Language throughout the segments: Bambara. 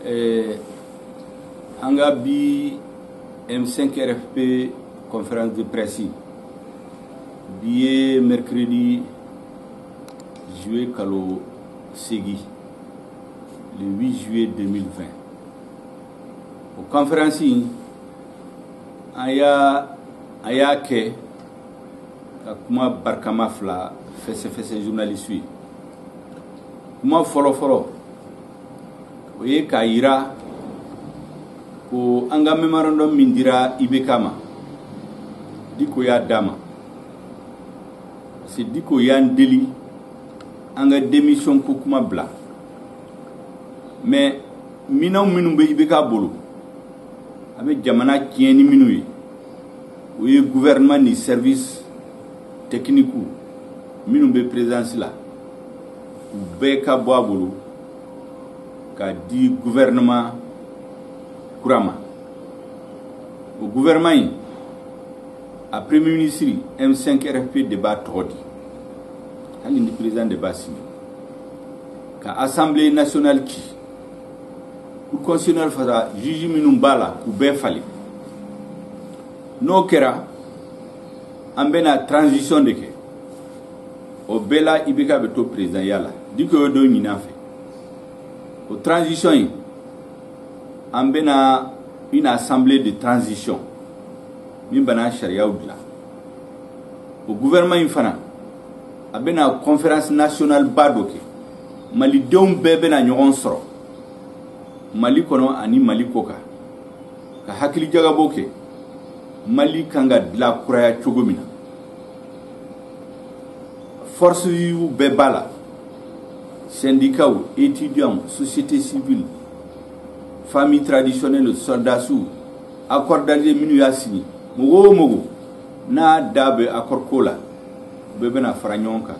eh, an ka bi M5RFP conférence de presse bi ye mercredi juillet kalo seegin le 8 juillet 2020 o conférence in an y'a an y'a kɛ ka kuma barikama fila fɛsɛfɛsɛ journalistew ye kuma fɔlɔfɔlɔ o ye k'a yira ko an ka memorandum min dira ibk ma diko y'a d'a ma parce que diko y'an deli an ka démission ko kuma bila mais minɛnw minnu bɛ ibk bolo a bɛ jamana tiɲɛ ni minnu ye o ye gouvernement ni service technique minnu bɛ présidence la u bɛɛ ka bɔ a bolo ka di gouvernement kura ma o gouvernement in a premier ministre m5 rfp de b'a tɔgɔ di hali ni président de b'a signer ka assemblée nationale ci cour constitutionnelle fasa juge minnu b'a la k'u bɛɛ falen n'o kɛra an bɛna transition de kɛ o bɛɛ la ibk bɛ to perezidanya la diko y'o de ɲini an fɛ o transition in an bɛna une assemblée de transition min bɛna sariyaw dilan o gouvernement in fana a bɛna conférence nationale ba dɔ kɛ malidenw bɛɛ bɛna ɲɔgɔn sɔrɔ mali kɔnɔ ani mali kɔkan ka hakilijagabo kɛ mali kan ka dilan kuraya cogo min na forces vives bɛɛ b'a la syndicatw étudiantw société civile famille traditionnelle sɔrɔdasiw accord d'alger minnu y'a signer mɔgɔ o mɔgɔ n'a da bɛ accord ko la bɛɛ bɛna fara ɲɔgɔn kan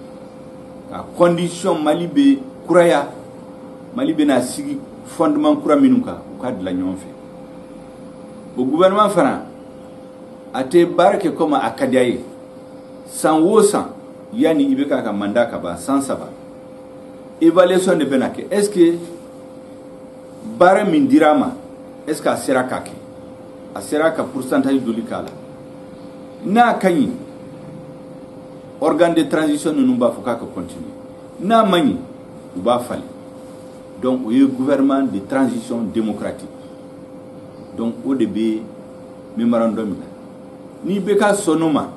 ka condition mali bɛ kuraya mali bɛna sigi fondement kura minnu kan u ka dilan ɲɔgɔn fɛ o gouvernement fana a tɛ baara kɛ komi a ka diya ye san o san yanni ibk ka mandat ka ban san saba évaluation de bɛna kɛ est ce que baara min dira a ma est ce que a sera k'a kɛ a sera ka pourcentage joli k'a la n'a ka ɲi organe de transition ninnu b'a fɔ k'a ka continuer n'a man ɲi u b'a falen donc o ye gouvernement de transition démocratique donc o de bɛ memorandum in na n'IBK sɔnn'o ma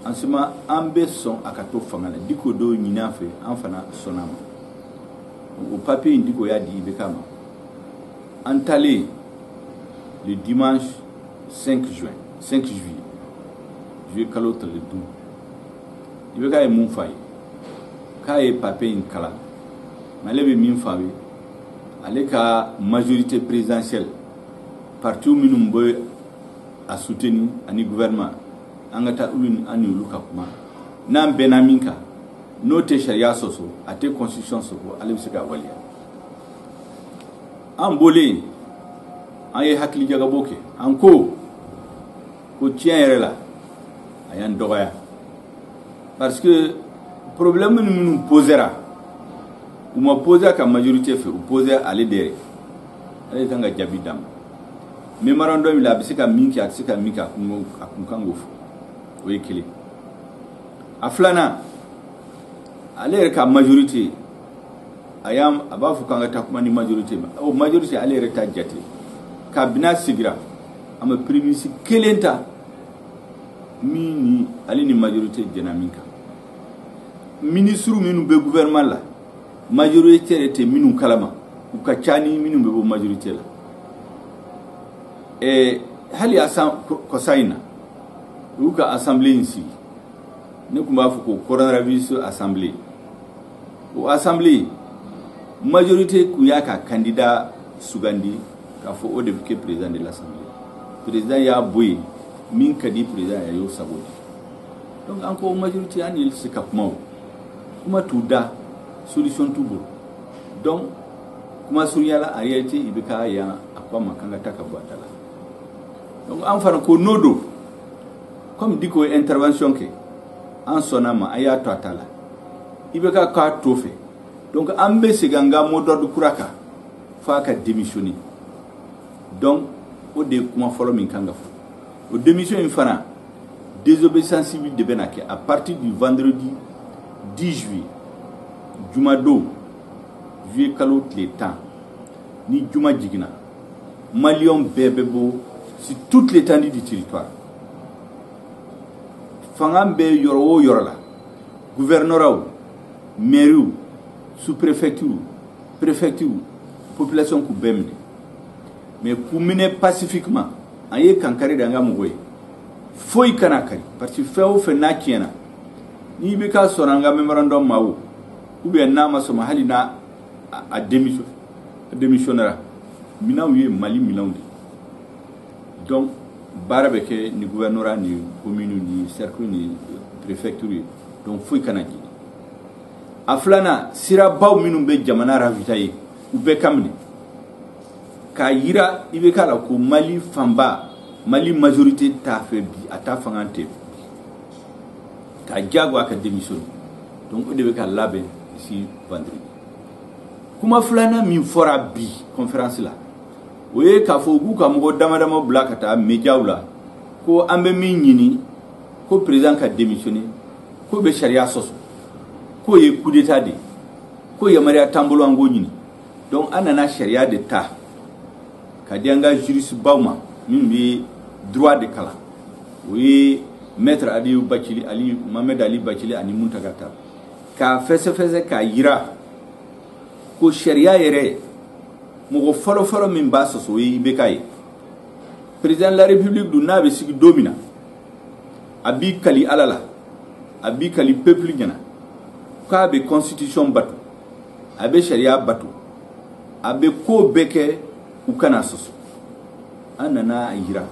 en ce moment an bɛ sɔn a ka to fanga la diko d'o ɲini an fɛ an fana sɔnna a ma o papiye in diko y'a di IBK ma an taalen le dimanche 5 juin 5 juillet juillet kalo tile duuru IBK ye mun f'an ye k'a ye papiye in kalan mais ale bɛ min f'an ye ale ka majorité présidentielle parti minnu bɛ a soutenu ani gouvernement an ka taa olu an n'olu ka kuma n'an bɛnna min kan n'o tɛ sariya sɔsɔ a tɛ constitution sɔsɔ ale bɛ se k'a waleya an bɔlen an ye hakilijagabɔ kɛ an ko ko tiɲɛ yɛrɛ la a y'an dɔgɔya parce que problème ni minnu posera u ma poser a ka majorité fɛ u posera ale de yɛrɛ ale de kan ka jaabi d'a ma memorandum la a bɛ se ka min kɛ a tɛ se ka min kɛ a kun a kun kan k'o fɔ o ye kelen a filanan ale yɛrɛ ka majorité a y'a a b'a fɔ k'an ka taa kuma ni majorité ma o majorité ale yɛrɛ t'a jate kabini a sigira a ma premier ministre kelen ta min ni ale ni majorité jɛnna min kan ministre minnu bɛ gouvernement la majorité yɛrɛ tɛ minnu kalama u ka ca ni minnu bɛ bɔ majorité la ɛɛ hali asan kɔsa in na u y'u ka assemblée in sigi ne tun b'a fɔ ko coronavirus assemblée o assemblée majorité kun y'a ka candidat sugandi k'a fɔ o de bɛ kɛ président de l'assemblée président y'a bɔ yen min ka di président ye a y'o sago di donc an ko majorité an ye se ka kuma o kuma t'u da solution t'u bolo donc kuma surunya la en réalité IBK y'an a ko an ma k'an ka taa ka bɔ a ta la donc an fana ko n'o don comme diko ye intervention kɛ an sɔnna a ma an y'a to a ta la IBK k'a t'o fɛ donc an bɛ segin an ka mot d'ordre kura kan f'a ka démissionner donc o de ye kuma fɔlɔ min kan ka fɔ o démission in fana désobéissance civile de bɛna kɛ à partir du vendredi 10 juillet jumadon juillet kalo tile tan ni juma jiginna malien bɛɛ bɛ bɔ sur toute l'étendue du territoire fanga bɛ yɔrɔ o yɔrɔ la gouvernorat mɛriw sous-préfecture préfecture population k'u bɛɛ minɛ mais k'u minɛ pacifiquement an ye kankari da an ka mɔgɔw ye foyi kana kari parce que fɛn o fɛn n'a tiɲɛna ni IBK sɔnna an ka mémorandum ma o ou bien n'a ma sɔn a ma hali n'a a démissionnera minɛnw ye mali minɛnw de ye donc baara bɛ kɛ ni gouvernorat ni commune ni cercle ni préfecture ye donc foyi kana jeni a filanan sirabaw minnu bɛ jamana ravitailler u bɛɛ ka minɛ k'a yira IBK la ko mali fanba mali majorité t'a fɛ bi a t'a fanga tɛ k'a jagoya ka démissionner donc o de bɛ ka labɛn ici vendredi kuma filanan min fɔra bi conférence la o ye k'a fɔ u k'u ka mɔgɔ dama dama bila ka taa mediaw la ko an bɛ min ɲini ko président ka démissionner k'o bɛ sariya sɔsɔ k'o ye coup d'état de ye ko yamaruya t'an bolo an k'o ɲini donc an nana sariya de ta ka di an ka juristebaw ma minnu bɛ droit de kalan o ye maître ali bacili ali mohamed ali bacili ani muntaga tall k'a fɛsɛfɛsɛ k'a yira ko sariya yɛrɛ mɔgɔ fɔlɔ fɔlɔ min b'a sɔsɔ o ye IBK ye président de la république dun n'a bɛ sigi don min na a b'i kali ala la a b'i kali peuple ɲɛna k'a bɛ constitution bato a bɛ sariya bato a bɛ ko bɛɛ kɛ u kana sɔsɔ an nana a yira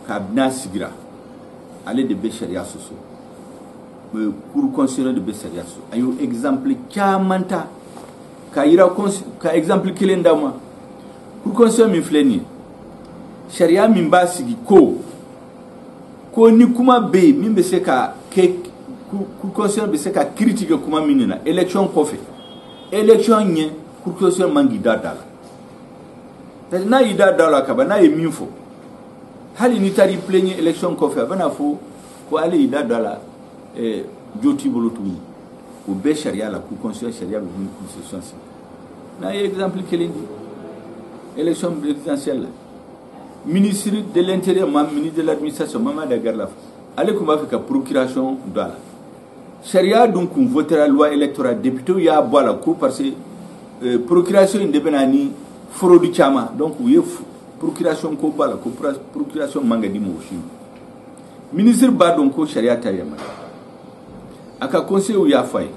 kabini a sigira ale de bɛ sariya sɔsɔ kuru kɔnsiyɛ de bɛ sariya so a y'o egizanpili caman ta ka yira ka egizanpili kelen d'a ma kuru kɔnsiyɛ min filɛ nin ye sariya min b'a sigi ko ko ni kuma bɛ yen min bɛ se ka kɛ kuru kɔnsiyɛ bɛ se ka kiri tigɛ kuma min de la elekisɔn kɔfɛ elekisɔn ɲɛ kuru kɔnsiyɛ man k'i da da la parce que n'a y'i da da la kaban n'a ye min fɔ hali n'i taara i plɛɲɛ elekisɔn kɔfɛ a bɛna fɔ ko ale y'i da don a la eh, jo t'i bolo tuguni o bɛ sariya la cour constitutionnelle sariya bɛ min constitution sigi n'a ye exemple kelen di élection présidentielle la ministre de l'intérieur ministre de l'administration mohamed ag erlaf ale tun b'a fɛ ka procuration don a la sariya dun tun votera loi électorale députéw y'a bɔ a la ko parce que eh, procuration in de bɛ na ni fraude caman donc u ye procuration ko bɔ a la ko procuration man kan ka di mɔgɔ si ma minisiri b'a dɔn ko sariya t'a yamaruya a ka conseillers y'a fɔ a ye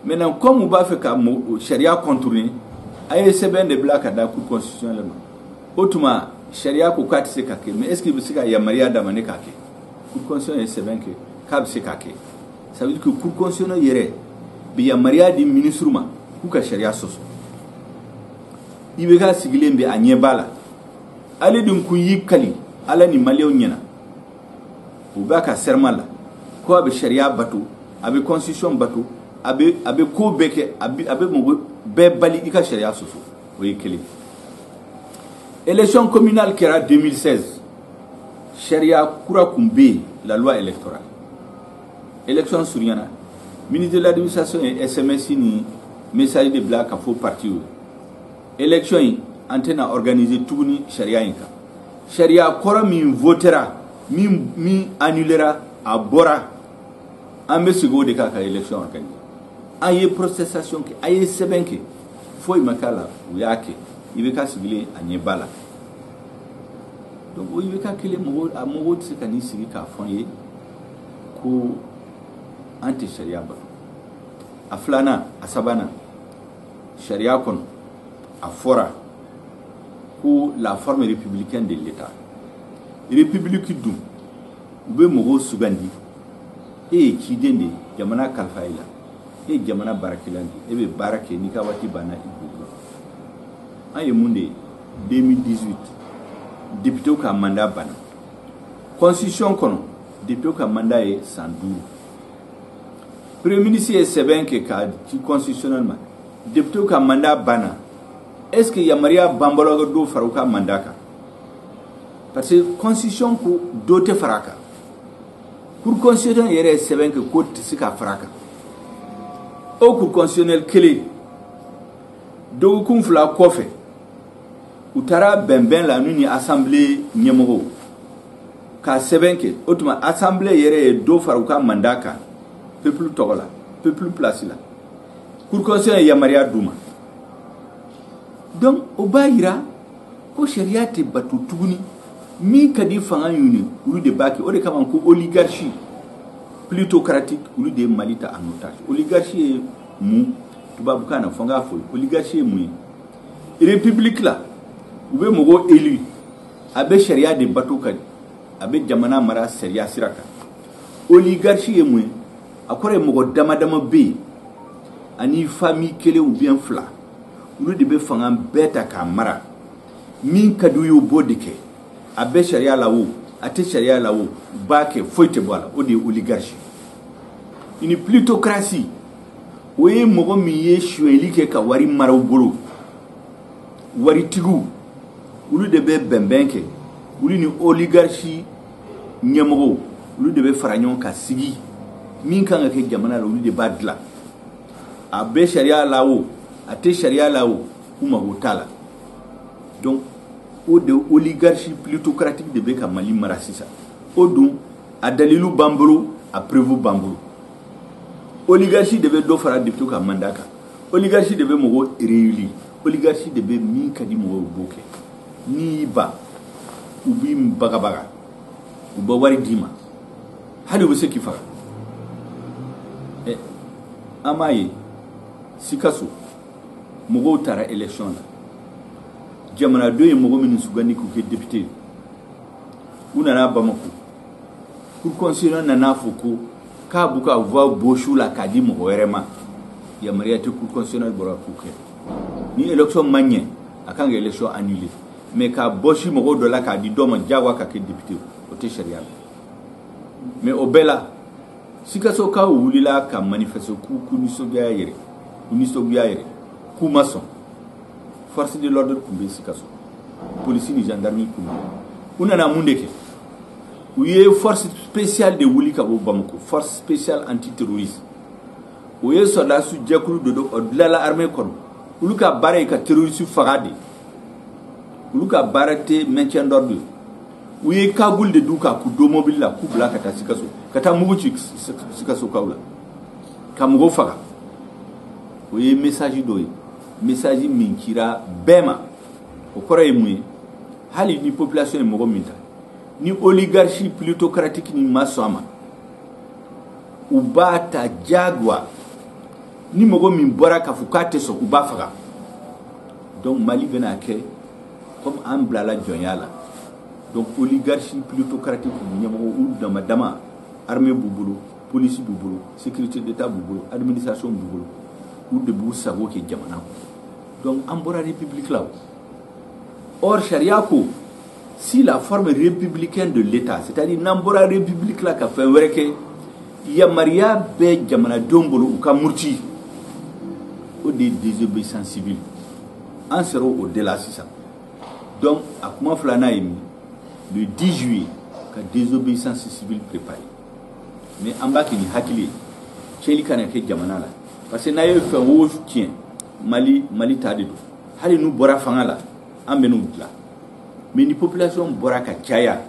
maintenant comme u b'a fɛ ka sariya contourner a ye sɛbɛn de bila ka da cour constitutionnelle ma o tuma sariya ko k'a tɛ se ka kɛ mais est ce que bɛ se ka yamaruya d'a ma ne k'a kɛ cour constitutionnelle ye sɛbɛn kɛ k'a bɛ se k'a kɛ ça veut dire que cour constitutionnelle yɛrɛ bɛ yamaruya di minisiriw ma k'u ka sariya sɔsɔ IBK sigilen bɛ a ɲɛ b'a la ale dun kun y'i kali ala ni maliyɛnw ɲɛna o b'a ka serment la ko a bɛ sariya bato a bɛ constitution bato a bɛ a bɛ ko bɛɛ kɛ a bɛ a bɛ mɔgɔ bɛɛ bali i ka sariya sɔsɔ o ye kelen élection communale kɛra 2016 sariya kura kun bɛ yen la loi électorale élection surunyana ministre de l'administration ye sms ni message de bila k'a fɔ partiw ye élection in an tɛna organiser tuguni sariya in kan sariya kɔrɔ min votera min min annulera a bɔra an bɛ segin o de kan ka élection organiser an ye protestation kɛ an ye sɛbɛn kɛ foyi ma k'a la u y'a kɛ IBK sigilen a ɲɛ b'a la donc o IBK kelen mɔgɔ a mɔgɔw tɛ se ka n'i sigi k'a fɔ an ye ko an tɛ sariya bato a filanan a sabanan sariya kɔnɔ a fɔra ko la forme républicaine de l'état république dun u bɛ mɔgɔw sugandi e ye ciden de ye jamana kalifa i la e ye jamana baarakɛla de ye e bɛ baara kɛ n'i ka waati banna i bɛ wuli an ye mun de ye 2018 députéw ka mandat banna constitution kɔnɔ députéw ka mandat ye san duuru premier ministre ye sɛbɛn kɛ k'a di constitutionnelle ma députéw ka mandat banna est ce que yamaruya b'an bolo ka dɔ fara u ka mandat kan parce que constitution ko dɔ tɛ fara a kan cour constitutionnelle yɛrɛ ye sɛbɛn kɛ k'o tɛ se ka fara a kan o cour constitutionnelle kelen dɔgɔkun fila kɔfɛ u taara bɛnbɛn la n'u ni assemblée ɲɛmɔgɔw ka sɛbɛn kɛ o tuma assemblée yɛrɛ ye dɔ fara u ka mandat kan peuple tɔgɔ la peuple place la cour constitutionnelle ye yamaruya d'u ma donc o b'a yira ko sariya tɛ bato tuguni min ka di fanga ye olu de b'a kɛ o de kama ko oligarchie ploutocratique olu de ye mali ta en otage oligarchie ye mun tubabukan na fo n k'a fɔ oligarchie ye mun ye république la u bɛ mɔgɔ élu a bɛ sariya de bato ka a bɛ jamana mara sariya sira kan oligarchie ye mun ye a kɔrɔ ye mɔgɔ dama dama bɛ yen ani famille kelen ou bien fila olu de bɛ fanga bɛɛ ta k'a mara min ka d'u ye u b'o de kɛ a bɛ sariya la o a tɛ sariya la o u b'a kɛ foyi tɛ bɔ a la o de ye oligarchie une plutocratie o ye mɔgɔ min ye sonyɛli kɛ ka wari mara u bolo waritigiw olu de bɛ bɛnbɛn kɛ olu ni oligarisi ɲɛmɔgɔw olu de bɛ fara ɲɔgɔn ka sigi min kan ka kɛ jamana la olu de b'a dilan a bɛ sariya la o a tɛ sariya la o k'u mago t'a la donc o de oligarisi plutocratique de bɛ ka mali mara sisan o dun a dalilu b'an bolo a preuve b'an bolo oligarisi de bɛ dɔ fara depute ka mandat kan oligarisi de bɛ mɔgɔw réélu oligarisi de bɛ min ka di mɔgɔw b'o kɛ n'i y'i ban u b'i bagabaga u bɛ wari d'i ma hali u bɛ se k'i faga a m'a ye sikaso mɔgɔw taara election na jamanadenw ye mɔgɔ minnu sugandi k'u kɛ depute u nana bamako cour constitutionnelle nan'a fɔ ko k'a b'u ka voix bɔs'u la k'a di mɔgɔ wɛrɛ ma yamaruya tɛ cour constitutionnelle bolo k'o kɛ ni élection ma ɲɛ a kan ka élection annuler mais k'a bɔsi mɔgɔ dɔ la k'a di dɔ ma diyagoya k'a kɛ député o tɛ sariya la mais o bɛɛ la sikasokaw wulila ka manifeste k'u ka nisɔngoya yira k'u ma sɔn force de l'ordre tun bɛ sikaso polisi ni gendarmerie tun bɛ u nana mun de kɛ u ye force spéciale de wuli ka bɔ Bamako force spéciale anti terroriste o ye sɔrɔdasiw jɛkulu dɔ o dilanla armée kɔnɔ olu ka baara ye ka terroriste faga de olu ka baara tɛ maintien d'ordre ye u ye cagoule de d'u kan k'u don mobili la k'u bila ka taa sikaso ka taa mugu ci sikasokaw la ka mɔgɔw faga o ye message dɔ ye message min cira bɛɛ ma o kɔrɔ ye mun ye hali ni population ye mɔgɔ min ta ni oligarchie plutocratique nin ma sɔn a ma u b'a ta jagoya ni mɔgɔ min bɔra k'a fɔ k'a tɛ sɔn u b'a faga donc mali bɛna kɛ comme an bilala jɔnya la donc oligarchie plutocratique ɲɛmɔgɔw dama dama armée b'u bolo polisi b'u bolo sécurité d'état b'u bolo administration b'u bolo u de b'u sago kɛ jamana kɔnɔ donc an bɔra république la o Or sariya ko si la forme républicaine de l'État c'est-à-dire n'an bɔra république la ka fɛn wɛrɛ kɛ yamaruya bɛ jamanadenw bolo u ka muruti o de ye désobéissance civile an sera o de la sisan donc a kuma filanan ye min le 10 juillet ka désobéissance civile préparer mais an b'a kɛ ni hakili ye tiɲɛli kana kɛ jamana la parce que n'a ye fɛn o tiɲɛ mali ta de don hali n'u bɔra fanga la an bɛ n'u dilan mais ni population bɔra ka caya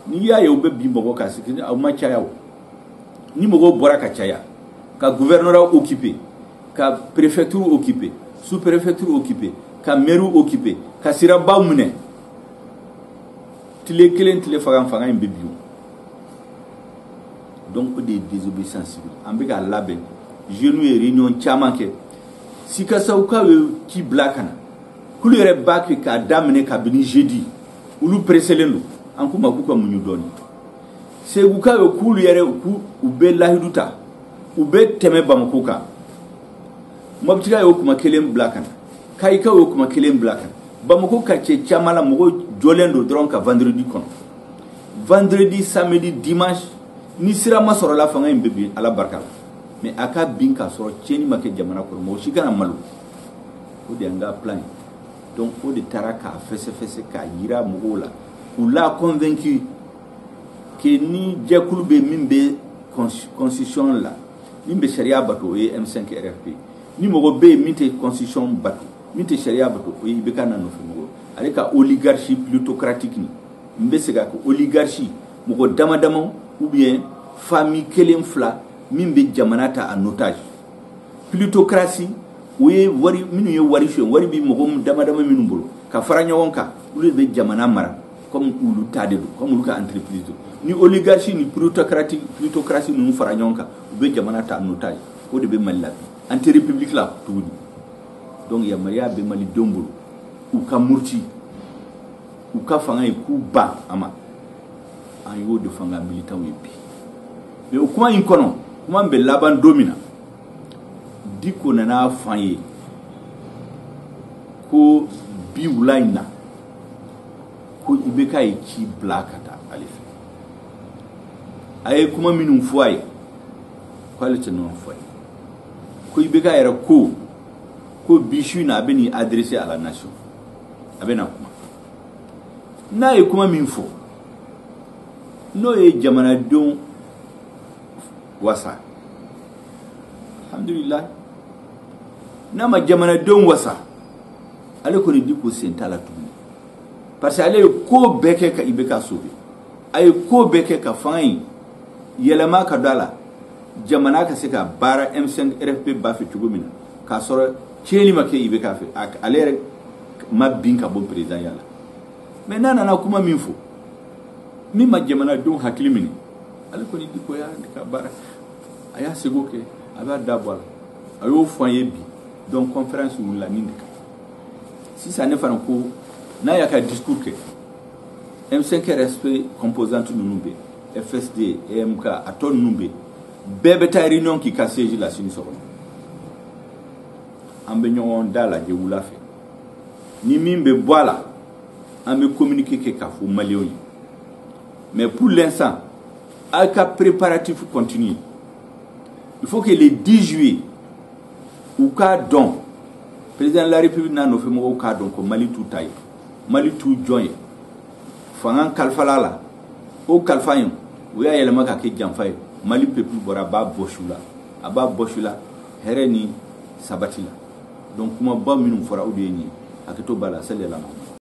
n'i y'a ye u bɛ bin mɔgɔ kan c'est que aw ma caya ni mɔgɔw bɔra ka caya ka gouvernorat occuper ka préfecture occuper sous préfecture occuper ka mairie occuper ka sirabaw minɛ tile kelen tile fila fanga in bɛ bin donc o de ye désobéissance civile an bɛ k'a labɛn jeunes ye réunion caman kɛ sikasokaw ye ci bila ka na k'olu yɛrɛ b'a kɛ k'a daminɛ kabini jeudi olu pereselen don an k'u ma k'u ka muɲu dɔɔni segukaw ye k'olu yɛrɛ k'u u bɛ lahidu ta u bɛ tɛmɛ bamako kan mɔbitikaw y'o kuma kelen bila ka na kayikaw y'o kuma kelen bila ka na bamako quartier caman la mɔgɔw jɔlen don dɔrɔn ka vendredi kɔnɔ vendredi samedi dimanche ni sira ma sɔrɔ a la fanga in bɛ bin ala barika la mais a ka bin k'a sɔrɔ tiɲɛni ma kɛ jamana kɔnɔ mɔgɔ si kana malo o de y'an ka plan ye donc o de taara k'a fɛsɛfɛsɛ k'a yira mɔgɔw la k'u la convaincu que ni jɛkulu bɛ min bɛ constitution la min bɛ sariya bato o ye M5 RFP ni mɔgɔ bɛ yen min tɛ constitution bato min tɛ sariya bato o ye IBK n'a nɔfɛ mɔgɔ ale ka oligarchie ploutocratique nin n bɛ segin a kan oligarchie mɔgɔ dama dama ou bien famille kelen fila min bɛ jamana ta en otage ploutocratie o ye wari minnu ye wari suɲɛ wari bɛ mɔgɔ dama dama minnu bolo ka fara ɲɔgɔn kan olu de bɛ jamana mara comme olu ta de don comme olu ka entreprise don ni oligarchie ni ploutocratie ninnu fara ɲɔgɔn kan u bɛ jamana ta en otage o de bɛ mali la bi an tɛ république la tuguni donc yamaruya bɛ malidenw bolo u ka muruti u ka fanga ye k'u ban a ma an y'o de f'an ka militants ye bi mais o kuma in kɔnɔ kuma bɛ laban don min na diko nan'a f'an ye ko bi wula in na ko IBK ye ci bila ka taa ale fɛ a ye kuma minnu fɔ a ye ko ale tɛ ninnu fɔ a ye ko IBK yɛrɛ ko ko bi su in na a bɛ n'i adresser à la nation a bɛna kuma n'a ye kuma min fɔ n'o ye jamanadenw wasa alhamdulillah n'a ma jamanadenw wasa ale kɔni diko sen t'a la tuguni parce que ale ye ko bɛɛ kɛ ka ibk sauver a ye ko bɛɛ kɛ ka fanga in yɛlɛma ka don a la jamana ka se ka baara m5 rfp ba fɛ cogo min na k'a sɔrɔ tiɲɛni ma kɛ ibk fɛ ale yɛrɛ ma bin ka bɔ perezidanya la mais n'a nana kuma min fɔ min ma jamanadenw hakili minɛ ale kɔni diko y'a ka baara a y'a seko kɛ a b'a da bɔ a la a y'o fɔ an ye bi donc conférence wulila nin de kan sisan ne fana ko n'a y'a ka discours kɛ m5 rfp composante ninnu bɛ fsd emk a tɔ ninnu bɛ bɛɛ bɛ taa réunion k'i ka siège la sini sɔgɔma an bɛ ɲɔgɔn dalajɛ wula fɛ ni min bɛ bɔ a la an bɛ communiqué kɛ k'a fɔ maliyɛnw ye mais pour l'instant aw ka préparatif continue il faut que le 10 juillet u k'a dɔn président de la république n'a nɔfɛ mɔgɔw k'a dɔn ko mali t'u ta ye mali t'u jɔn ye fanga kalifala la o kalifa in u y'a yɛlɛma ka kɛ janfa ye mali peuple bɔra a b'a bɔs'u la hɛrɛ ni sabati la donc kumaba minnu fɔra o de ye nin ye hakɛto b'a la sali ala